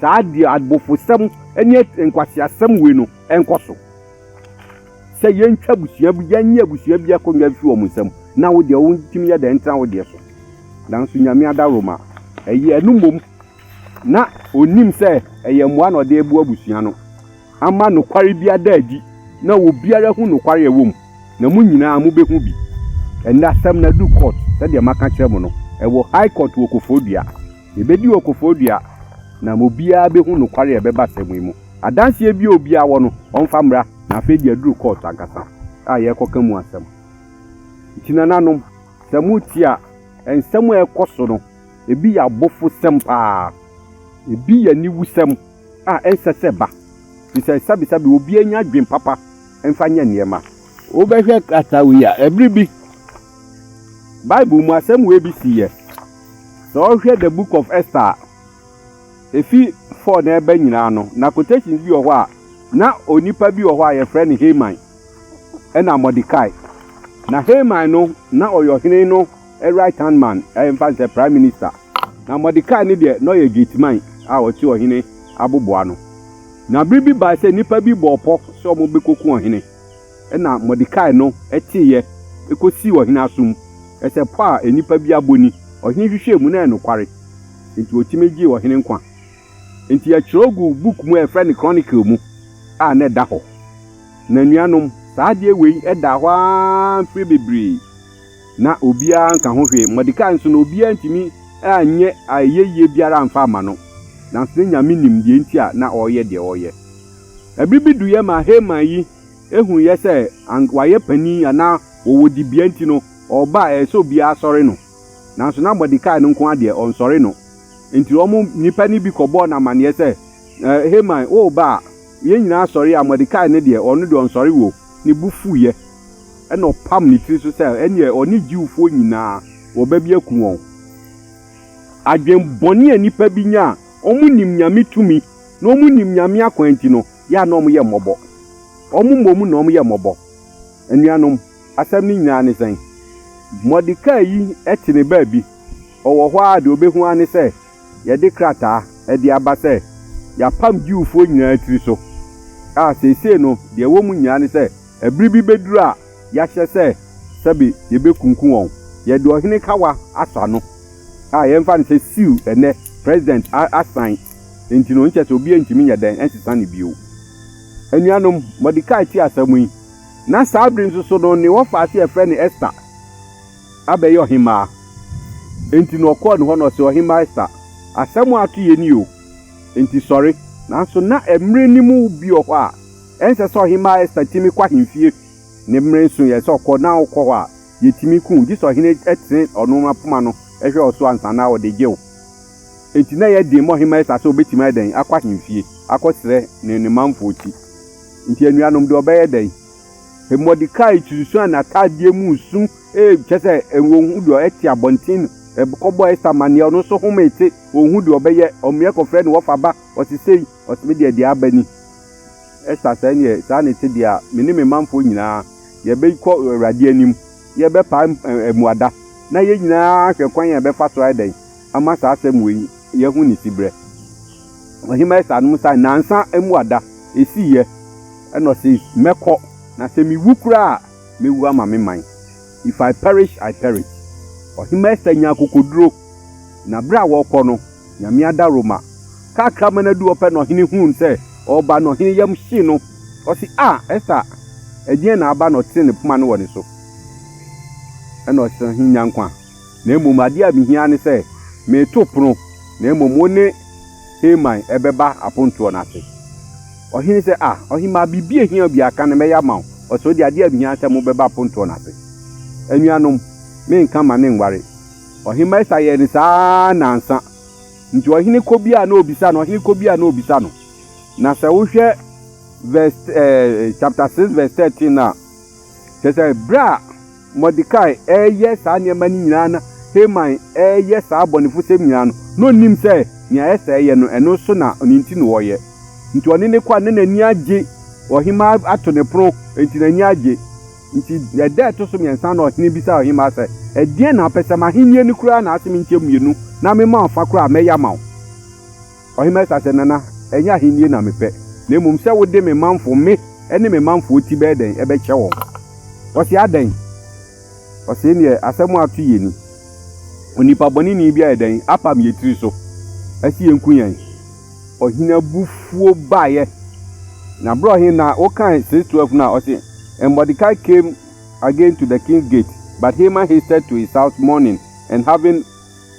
saa deɛ abofosɛm ne nkwaseasɛm wei no ɛnkɔ so. Sɛ yɛntwa abusua bi, yɛnyɛ abusua bi akonnwa mfi wɔn nsam na wo deɛ wontumi yɛ dɛ ntena wo deɛ so. Nanso Nyame adaworoma ɛyɛ ɛno mmom na ɔnim sɛ ɛyɛ mmoa na ɔde reboa abusua no. ama nokware bi ada adi na obiara ahu nokware a ɛwɔ mu, na mo nyinaa mubehu bi. Ɛnnɛ asɛm no adu court, sɛdeɛ maka akyerɛ mo no, ɛwɔ High Court wɔ Koforidua. Yɛbɛdi wɔ Koforidua, na mo biara bɛhu nokware a ɛbɛba asɛm yi mu. Adanseɛ biara a obiara wɔ no, ɔmfa mmra, na afei deɛ aduru court ankasa a yɛrekɔka mu asɛm. Nti nananom, sɛ motie a, nsɛm a ɛrekɔ so no, ebi yɛ abofosɛm paa, ebi yɛ aniwusɛm, a ɛnsɛ sɛ ɛba. Bisabisa bi, obiara nya adwene papa mfa nyɛ nneɛma. Wobɛhwɛ krataa wei a, bere bi Bible mu asɛm wei bi siiɛ. Sɛ wohwɛ The Book of Esther a, efi four na ɛba nyinaa no, na quotations bi wɔ hɔ a, na onipa bi wɔ hɔ a yɛfrɛ no Haman ɛna Mordecai. Na Haman no, na ɔyɛ ɔhene no a right hand man, yɛmfa no sɛ prime minister. Na Mordecai no deɛ, na ɔyɛ gateman a ɔte ɔhene aboboa ano. Na bere bi bae sɛ nnipa bi bɔɔ pɔ sɛ wɔbɛkɔku ɔhene. Ɛnna Mordecai no teeɛ kɔsii ɔhene asom sɛ pɔ a nnipa bi abɔ ni. Ɔhene hwehwɛɛ mu, na ɛyɛ nokware, enti ɔtumi gyee ɔhene nkwa. Enti wɔtwerɛ guu book mu a wɔfrɛ no Chronicle mu a na ɛda hɔ. Na anuanom, saa adeɛ wei daa hɔ ara mfeɛ bebree. na obiara nka ho hwee. Mordekai nso, na obiara ntumi nyɛ ayɛyie biara mfa mma no, nanso na Nyame nim deɛ nti a na ɔreyɛ deɛ ɔreyɛ. Ɛberɛ bi duiɛ maa Haman yi huiɛ sɛ anka wayɛ panin anaa ɔwɔ dibea nti no, ɔreba a ɛyɛ sɛ obiara sɔre no. Nanso na Mordekai no nko ara deɛ, ɔnsɔre no. Enti wɔn nnipa no bi kɔbɔɔ no amanneɛ sɛ, Haman, woreba a, yɛn nyinaa sɔre a, Mordekai no deɛ, ɔno deɛ ɔnsɔre o. Ne bo fuiɛ. Ɛnna ɔpam ne tiri so sɛ, ɛnneɛ ɔne Jewfoɔ nyinaa wɔbɛbi aku wɔn. Adwen bɔne a nnipa bi nya a wɔnim Nyame tumi na wɔnim Nyame akwan nti no yɛ a na wɔyɛ mmɔbɔ. Wɔn mmom na wɔyɛ mmɔbɔ. Anuanom, asɛm no nyinaa ne sɛn? Mordekai yi te ne baabi, ɔwɔ hɔ ara a deɛ ɔbɛhu ara ne sɛ, yɛde krataa de aba sɛ yɛapam Jewfoɔ nyinaa tiri so, a seesei no deɛ ɛwɔ mu nyinaa ne sɛ ɛbere bi bɛduru a yɛahyɛ sɛ sɛbe yɛbɛkunkum wɔn. Yɛde Ɔhene kawa asɔ ano, a yɛmfa no sɛ siw ɛnnɛ President asan nti no, nkyɛ sɛ obiara ntumi nyɛ dɛn nsesa no bio. Anuanom, Mordekai tee asɛm yi, na saa bere nso so no ne wɔfaase a yɛfrɛ no Ester, abɛyɛ ɔhemmaa. Enti na ɔkɔɔ ne hɔ na ɔse, Ɔhemmaa Ester, asɛm a ato yɛ ni o, enti sɔre. Nanso na mmere no mu bi wɔ hɔ a ɛnsɛ sɛ Ɔhemmaa Ester tumi kɔ ahemfie. Ne mmere nso yɛ sɛ ɔkɔ na ɔkɔ hɔ a, yetumi ku wo, gye sɛ ɔhene tene ɔno ara poma no hwɛ wo so ansa na ɔde gye wo. Enti na ɛyɛ den ma Ɔhemmaa Ester sɛ obetumi ayɛ dɛn akɔ ahemfie akɔsrɛ ne ne manfo ti. Enti anuanom de ɔbɛyɛ dɛn? Modekai sunsuan n'atadeɛ mu su, kyerɛ sɛ ɔnhu deɛ ɛte abɔnten no, ɛkɔbɔɔ Esther amanneɛ, ɔno nso homee te, ɔnhu deɛ ɔbɛyɛ, ɔmeɛ kɔfrɛ ne wɔfa ba, ɔse sei, ɔse me deɛ deɛ aba ni, Esther sɛ neɛ saa ne te deɛ a, me ne me manfoɔ nyinaa yɛbɛkɔ Awurade anim, na yɛbɛpae mmuada, na yɛn nyinaa ahwɛ kwan a yɛbɛfa so ayɛ dɛn? ama saa asɛm wei yɛahu ne siberɛ. Ɔhemmaa Esau nom sae nnansa mu ada. Ɛsiiɛ na ɔse, Mɛkɔ, na sɛ mewu koraa a, mɛwu ama me man. If I perish, I perish. Ɔhemmaa Esau nyaa akokoduro, na berɛ a wɔrekɔ no, Nyame adaworoma kakra ma no adu hɔ pɛ na ɔhene huu no sɛ ɔreba no, ɔhene yam hyee no. Ɔse, Ah, Esau, ɛdeɛn na aba? Na ɔtenee ne poma no wɔ ne so, ɛna ɔse, Ɔhene nya nkwa. Na mmom adeɛ a mehia ne sɛ mereto pono, na mmom wo ne Haman bɛba apontoɔ no ase. Ɔhene sɛ, Ah, ɔhemmaa, biribi a ɛhia wo biara, ka na mɛyɛ ama wo. Ɔsɛ ɔde, adeɛ a mehia ne sɛ mobɛba apontoɔ no ase. Anuanom, menka mma ne nware. Ɔhemmaa Esa yɛɛ no saa ara nnansa. Nti ɔhene kɔ biara na ɔbisa no, ɔhene kɔ biara na ɔbisa no. Na sɛ wohwɛ verse, eh, chapter 6 verse 13 no a, kyerɛ sɛ berɛ a Mordekai reyɛ saa nneɛma no nyinaa na Haman reyɛ saa abɔnefosɛm nyinaa no, na onnim sɛ nea ɛsɛ sɛ ɛyɛ no, ɛno nso na ne nti na ɔreyɛ. Nti ɔne no kɔ a, na n'ani agye. Ɔhemmaa ato ne pono, enti n'ani agye. Nti ɛda a ɛto so mmiɛnsa no, ɔhene bisaa ɔhemmaa sɛ, Ɛdeɛn na wopɛ? Sɛ m'ahennie no koraa na asɛ menkyɛ mmienu na mema wo fa koraa a, mɛyɛ ama wo. Ɔhemmaa Asa sɛ, Nana, ɛnyɛ ahennie na mepɛ, na mmom sɛ wode me manfo, me ne me manfoɔ ti bɛyɛ dɛn? Bɛkyɛ wɔn. Ɔse, Adɛn? Ɔse, Ɛneɛ asɛm a ato yɛ ni, onipa bɔneni bi ayɛ dɛn? Apam yɛ tiri so se yɛnku yɛn. Ɔhene abufuo baeɛ. Na berɛ a ɔhene, na wokae sis 12 no a, ɔse, And Mordecai came again to the king's gate, but Haman hasted to his house mourning and having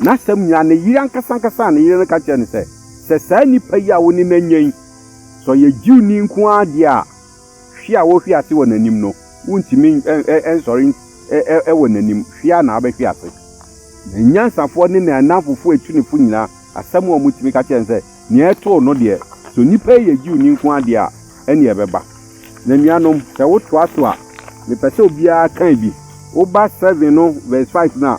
N'asɛm nyinaa, ne yere ankasa ankasa a ne yere no ka kyerɛɛ no sɛ, Sɛ saa nipa yi a wo ne no anya yi, sɛ ɔyɛ Jewni nko ara deɛ a, hwe a wɔhwe ase wɔ n'anim no, wontumi nsɔre wɔ n'anim, hwe ara na wobɛhwe ase. Na anyansafoɔ ne n'annamfofoɔ atunifo nyinaa, asɛm a wɔtumi ka kyerɛɛ no sɛ, Nea ɛtoo no deɛ, sɛ onipa yi yɛ Jewni nko ara deɛ a, ɛnneɛ ɛbɛba. Na anuanom, sɛ wotoa so a, mepɛ sɛ obiara kan bi. Woba seven no verse five no a,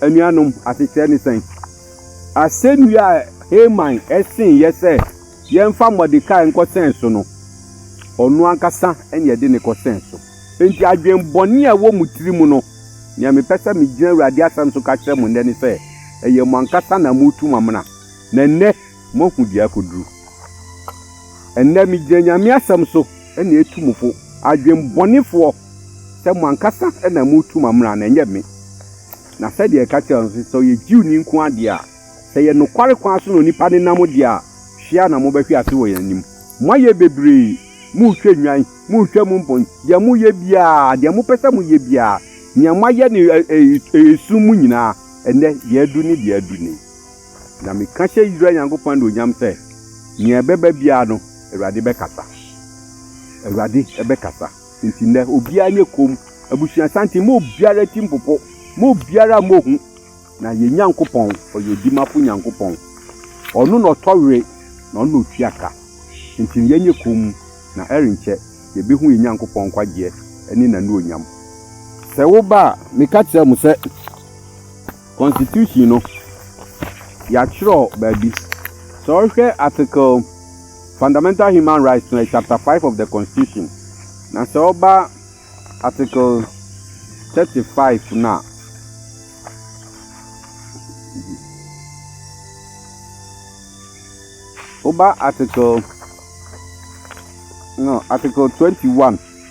Anuanom, asekyerɛ ne sɛn? Asɛnnua a Haman see yɛn sɛ yɛmfa Mordekai nkɔsɛn so no, ɔno ankasa na yɛde no kɔsɛn so. Enti adwemmɔne a ɛwɔ mo tirim no, nea mepɛ sɛ migyina Awurade asɛm so ka kyerɛ mo nnɛ ne sɛ, ɛyɛ mo ankasa na moretu mo amena. Na nnɛ, moahu deɛ akɔduru. Ɛnnɛ megyina Nyame asɛm so na ɛtu mo fo, adwenbɔnefoɔ, sɛ mo ankasa na moretu m'amena no, ɛnyɛ me. Na sɛdeɛ yɛka kyerɛɛ no sɛ, sɛ ɔyɛ Jewni nko ara deɛ a, sɛ ɛyɛ nokware kwan so na onipa no nam deɛ a, hwe ara na mobɛhwe ase wɔ yɛn anim. Moayɛ bebree, moretwa nnwan, moretwa mu mpɔn, deɛ moreyɛ biara, deɛ mopɛ sɛ moyɛ biara, nea moayɛ no esum mu nyinaa, ɛnnɛ deɛ aduru ne deɛ aduru nie. Na meka hyɛ Israel Nyankopɔn anuonyam sɛ, nea ɛbɛba biara no, Awurade bɛkasa. Awurade bɛkasa. Enti nnɛ, obiara nyɛ komm. Abusua santen, mma obiara ti mpopo. Mma obiara mmɔ hu. Na yɛn Nyankopɔn, ɔyɛ odimafo Nyankopɔn. Ɔno na ɔtɔ were, na ɔno na otua ka. Enti yɛnyɛ komm, na ɛrenkyɛ yebehu yɛn Nyankopɔn nkwagyeɛ ne n'anuonyam. Sɛ woba a, meka kyerɛ mo sɛ. Constitution no yɛatwerɛ baabi, sɛ wohwɛ article fundamental human rights no ɛyɛ chapter five of the constitution na sɛ woba article thirty five no a woba article no article twenty one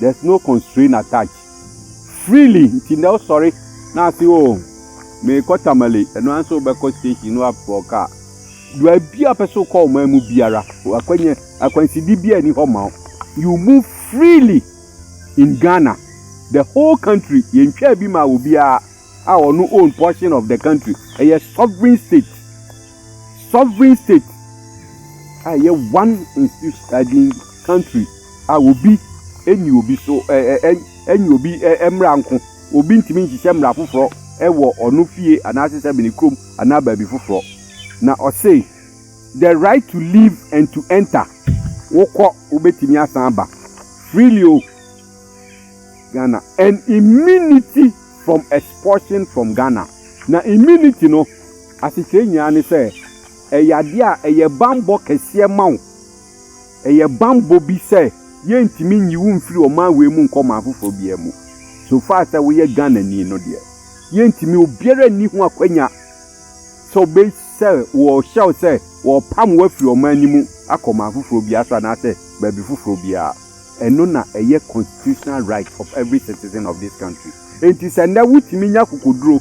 there's no constraint attached freely nti na ɔsɔre na ase o mekɔ tamale ɛno ara nso wobɛkɔ station no afɔ kaa baabi a pɛ so kɔ ɔman mu biara akwanya akwanside biara ni hɔ ma wo you move freely in Ghana the whole country yɛntwaa bi ma obiara a ɔno own portion of the country ɛyɛ sovereign state sovereign state a ɛyɛ one institution country a obi nni obi so nye obi mmara nko. Obi ntumi nhyehyɛ mmara foforɔ wɔ ɔno fie anaase sɛ mene kurom anaa baabi foforɔ. Na ɔse the right to leave and to enter, wokɔ wobɛtumi asan aba freely o Ghana and immunity from expulsion from Ghana. Na immunity no asekyerɛ nyinaa ne sɛ ɛyɛ adeɛ a ɛyɛ banbɔ kɛseɛ ma wo. Ɛyɛ bammɔ bi sɛ yɛrentumi nyi wo mfiri ɔman wei mu nkɔ ɔman foforɔ biara mu. So far sɛ woyɛ Ghanani no deɛ, yɛrentumi, obiara nni ho akwanya sɛ ɔbɛ sɛ wɔrehyɛ wo sɛ wɔrepam wo afiri ɔman no mu akɔ ɔman foforɔ biara so anaasɛ baabi foforɔ biara. Ɛno na ɛyɛ constitutional right of every citizen of this country. Enti sɛ nnɛ wotumi nya akokoduro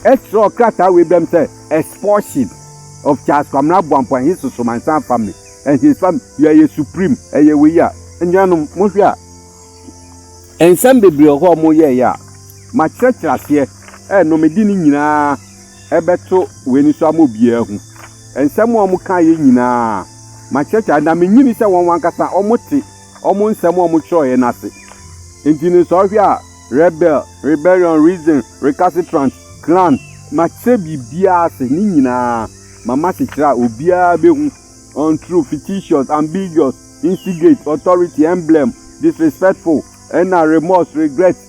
kyerɛw krataa wei brɛ me sɛ expulsion of Charles Kwamina Abuampong and his Sosomansan family and his family, you are a supreme, ɛyɛ wei a, anuanom mohwɛ a, nsɛm bebree wɔ hɔ a wɔyɛeɛ a, makyerɛkyerɛ aseɛ, ɛɛ no mede ne nyinaa. ɛbɛto w'ani so ama obiara ahu. Nsɛm a wɔkaeɛ nyinaa, makyerɛkyerɛ ade, na menyini sɛ wɔn ankasa wɔte wɔn nsɛm a wɔtwerɛeɛ no ase. Enti no, sɛ wohwɛ a, rebel, rebellion, reason, recalcitrant, clan, makyerɛ biribiara ase, ne nyinaa mama kyekyere a obiara bɛhu, untrue, fictitious, ambiguous, instigate, authority, emblem, disrespectful, ɛnna remorse, regret,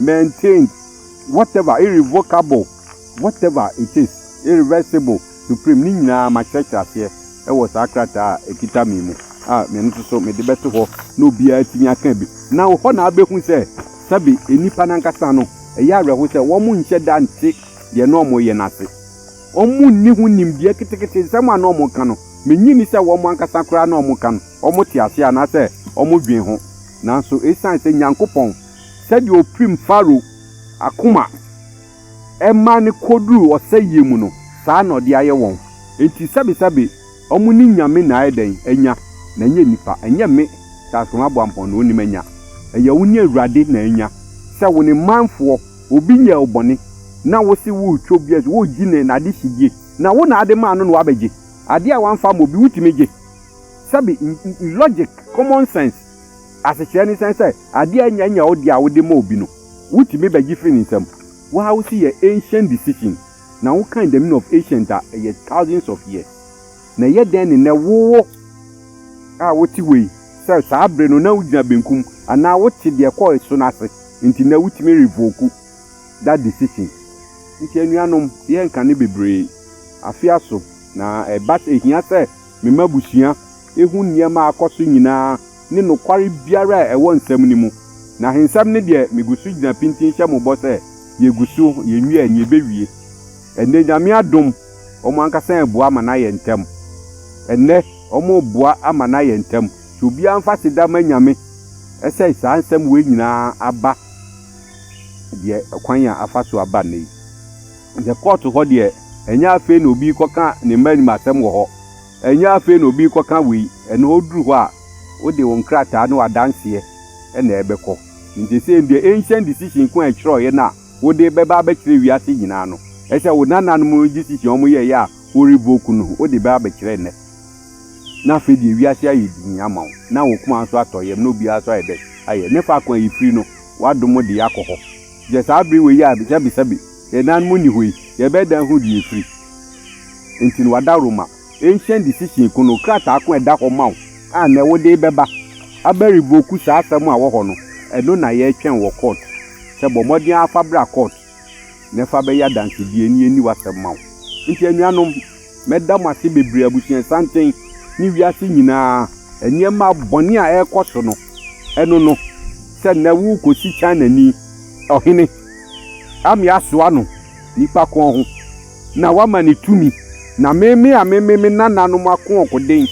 maintained, whatever, irrevocable, whatever it is, irreversible, supreme, ne nyinaa makyerɛkyerɛ aseɛ wɔ saa krataa a ɛkita me mu a me nso so mede bɛto hɔ na obiara atumi aka bi. Na hɔ na abɛhu sɛ sɛbe nnipa no ankasa no, ɛyɛ awerɛho sɛ wɔn nhyɛ da nte deɛ na wɔyɛ no ase. Wɔn nni ho nimdeɛ ketekete, nsɛm a na wɔka no, mennye nni sɛ wɔn ankasa koraa na wɔka no, wɔte aseɛ anaasɛ wɔdwen ho. Nanso ɛsiane sɛ Nyankopɔn Sɛdeɛ ɔpirim Farao akoma ma no kɔduru ɔsɛeɛ mu no, saa na ɔde ayɛ wɔn. Enti sɛbesɛbe wɔn ne nyame na ayɛ dɛn? Anya, na ɛnyɛ nnipa. Ɛnyɛ me, Teasefoɔ Aboampɔn, na ɔnim anya. Ɛyɛ wo ne Awurade na anya. Sɛ wo ne manfoɔ, obi nyɛɛ wo bɔne, na wo se woretwa obi asu, woregye ne n'adehyedie, na wo na ade maa no na wabɛgye. Adeɛ a wamfa amma obi, wotumi gye? Sɛbe, logic, common sense. Asekyerɛ ne sɛn? Sɛ ade a enya nyɛ wo de a wode ma obi no, wutumi begye fi ne nsam. Wo ara wose yɛ ancient decision, na wokan the meaning of ancient a, ɛyɛ thousands of years. Na ɛyɛ dɛn ne nnɛ wo wo a wote hɔ yi, sɛ saa bere no na wugyina benkum anaa wote deɛ ɛkɔ ɛso no ase nti nnɛ wutumi revoke that decision? Nti anuanom, yɛnka no bebree. Afe aso, na ɛba sɛ ehia sɛ mema abusua. ehu nneɛma a akɔ so nyinaa ne nokware biara a ɛwɔ nsɛm no mu. Na ahensɛm no deɛ, migu so gyina pintinn hyɛ mo bɔ sɛ, yegu so, yenwiae, nea ebewie. Ɛnnɛ, Nyame adom, wɔn ankasa reboa ama no ayɛ ntɛm. Ɛnnɛ, wɔreboa ama no ayɛ ntɛm. Sɛ obiara mfa aseda mma Nyame sɛ saa nsɛm wei nyinaa aba deɛ, kwan a afa so aba nnɛ yi. Sɛ kɔɔto hɔ deɛ, ɛnyɛ afei na obi rekɔka ne mma anim asɛm wɔ hɔ. Ɛnyɛ afei na obi rekɔka wei, ɛno oduru hɔ a, wode wo nkrataa ne w'adanseɛ na ɛbɛkɔ. Enti sei deɛ, ancient decision ko a ɛtwerɛeɛ no a wode rebɛba abɛkyerɛ wiase nyinaa no, ɛsɛ sɛ wo nananom no decision a wɔyɛeɛ a wo revoke no, wode ba abɛkyerɛ nnɛ. Na afei deɛ wiase ayɛ dinn ama wo, na wo koma nso atɔ yam, na obiara nso ayɛ dɛn? Ayɛ. Ne faako a yɛfiri no, w'adom de yɛn akɔ hɔ. Gye saa bere wei a, sɛbesɛbe. Yɛn nanom nni hɔ yi, yɛbɛyɛ dɛn ahu deɛ ɛfiri nti na wɔada Roma Ancient Decision ko no krataa ko a ɛda hɔ ma wo a nnɛ wode rebɛba abɛ revoke saa asɛm a ɛwɔ hɔ no? Ɛno na yɛretwɛn wɔ court sɛ bɔ mmɔden ara fa bra court na fa bɛyɛ adansedie na yɛnni w'asɛm ma wo. Nti anuanom, Mɛda mo ase bebree, abusuasanten ne wiase nyinaa nneɛma bɔne a ɛrekɔ so no. Ɛno no, sɛ nnɛ worekɔsi Chinani ɔhene ame asoa no nnipa kɔn ho na woama no tumi, na me me a meme me nananom akoɔkoden,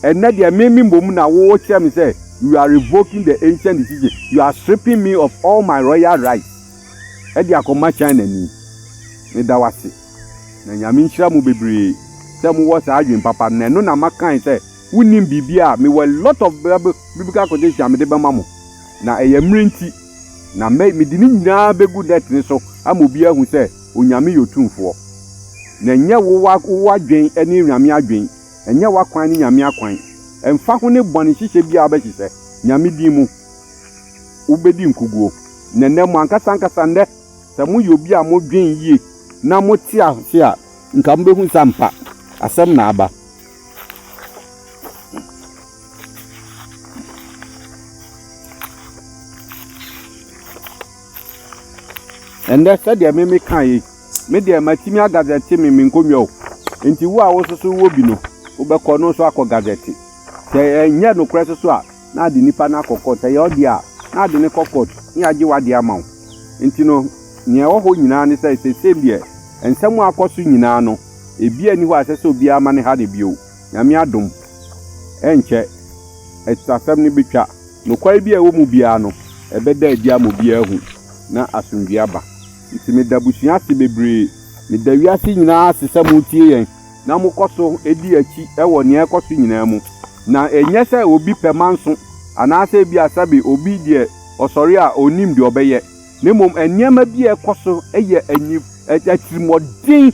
ɛnnɛ deɛ meme mmom na wokyerɛ me sɛ you are revoking the ancient decision, you are stripping me of all my royal rights de akɔma Chinani. Meda wo ase. Na Nyame nhyira mo bebree sɛ mo wɔ saa adwen papa no na ɛno na ma kae sɛ wo nim biribiaa a me wɔ a lot of biblical quotation a mede bɛma mo na ɛyɛ mmrɛ nti na mɛ mede ne nyinaa bɛgu net no so ama obiaa ahu sɛ Onyame yɛ otumfoɔ na ɛnyɛ wo wo adwen ne Onyame adwen ɛnyɛ w'akwan ne Nyame akwan ɛmfa ho ne bɔne hyehyɛ biaa wobɛhyehyɛ Nyame din mu wobɛdi nkuguo na nɛ mo ankasa ankasa nɛ Sɛ moyɛ obi a modwen yie na mote ase a, nka mobɛhu sɛ ampa, asɛm na aba. Ɛnnɛ, sɛdeɛ me meka yi, me deɛ matumi agazɛte me me nkonnwa o. Nti wo a wososo wɔ bi no, wobɛkɔ no nso akɔ gazɛte. Sɛ ɛnyɛ nokorɛ soso a, na ade nipa no akɔ kɔɔt. Ɛyɛ ɔde a, na ade no kɔ kɔɔt na yɛagye w'ade ama wo. Nti no, nea ɛwɔ hɔ nyinaa ne sɛ, seesei deɛ, nsɛm a akɔ so nyinaa no, ebiara nni hɔ a ɛsɛ sɛ obiara ma no ha no bio. Nyame adom, ɛrenkyɛ, atusasɛm no bɛtwa. Nokware biara a ɛwɔ mu biara no, ɛbɛda adi ama obiara ahu, na asomdwoe aba. Nti meda abusua ase bebree. Meda wiase nyinaa ase sɛ moretie yɛn. na mokɔ so di akyi wɔ nea ɛrekɔ so nyinaa mu. Na ɛnyɛ sɛ obi pɛ manso anaasɛ ebia sɛbe obi deɛ ɔsɔre a ɔnnim deɛ ɔbɛyɛ, na mmom nneɛma bi a ɛkɔ so yɛ atirimuɔden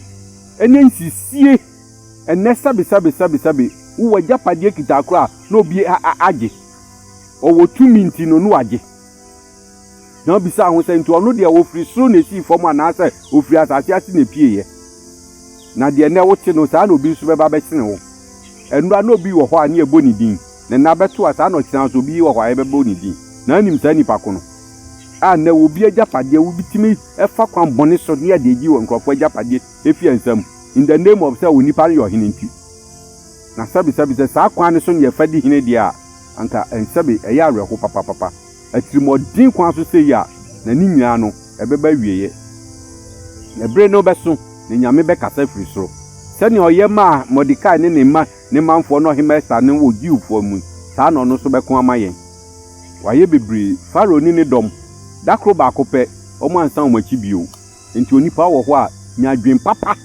ne nsisie. Ɛnnɛ sɛbe sɛbe sɛbe sɛbe wowɔ agyapadeɛ kitaa koraa na obi agye, ɔwɔ tumi nti no na wagye. na obisaa ho sɛ, Nti ɔno deɛ ɔfiri soro na esii fam anaasɛ ɔfiri asase ase na epueeɛ? Na deɛ nnɛ wote no, saa na obi nso bɛba abɛkyere wo. Ɛnnora na obi wɔ hɔ a na yɛbɔ ne din, ne nna bɛto a, saa na ɔkyena nso obi wɔ hɔ a yɛbɛbɔ ne din. Na anim saa nnipa ko no. A Nnɛ obi agyapadeɛ, wobetumi fa kwan bɔne so ne yɛde agye nkurɔfoɔ agyapadeɛ afi yɛn nsam, in the name of sɛ onipa no yɛ ɔhene nti. Na sɛbesɛbe sɛ saa kwan no so na yɛfa di hene deɛ a, anka sɛbe ɛyɛ awerɛhow papapapa. atirimɔden kwan so sei a, na ne nyinaa no, ɛbɛba awieɛ. Na bere no bɛso, na Nyame bɛkasa firi soro. Sɛnea ɔyɛ maa Mordekai ne ne mma ne manfoɔ ne Ɔhemmaa Ester no wɔ Jewfoɔ mu, saa na ɔno nso bɛko ama yɛn. Wayɛ bebree. Farao ne ne dɔm, da koro baako pɛ, wɔansan wɔn akyi bio. Enti onipa wɔ hɔ a, nya adwen papa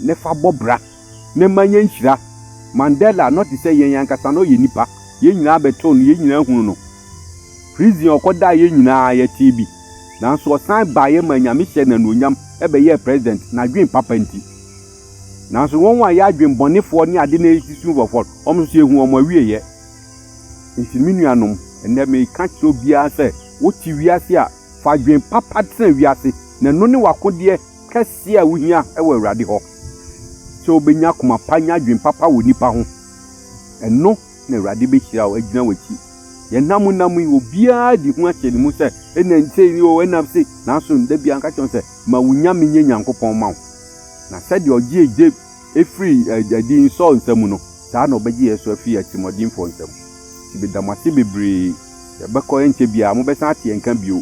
na fa bɔ bra. na ɛma yɛn nhyira. Mandela, na ɔte sɛ yɛn ankasa, na ɔyɛ nipa. Yɛn nyinaa bɛtoo no, yɛn nyinaa hunu no. Prison a ɔkɔdaa yɛn nyinaa yɛtee bi. Nanso ɔsan baeɛ maa Nyame hyɛɛ no anuonyam bɛyɛɛ President, n'adwene papa nti. Nanso wɔn a yɛ adwene bɔnefoɔ ne ade na ɛsisi wɔn fɔ no, wɔn nso yɛhu wɔn awieɛ. Nti me nuanom, ɛnnɛ meka kyerɛ obiara sɛ, wote wiase a, fa adwene papa tena wiase, na ɛno ne w'akodeɛ. kɛseɛ a wohia wɔ Awurade hɔ, sɛ wobɛnya akoma pa anya adwene papa wɔ nnipa ho. Ɛno na Awurade bɛhyira wo, agyina w'akyi. Deɛ nna mu nam yi, obiara de hu ahyɛ ne mu sɛ, ɛna sei ni o, ɛna sei, nanso da biara nka kyerɛ sɛ, ma wo nyame nyɛ Nyankopɔn ma wo. Na sɛdeɛ ɔgyee Job firi adiyini Saul nsa mu no, saa na ɔbɛgye yɛn nso afiri atirimuɔdenfoɔ nsa mu. Nti meda mo ase bebree. Yɛbɛkɔ ɛnkyɛ biara, mobɛsan ate yɛn nka bio.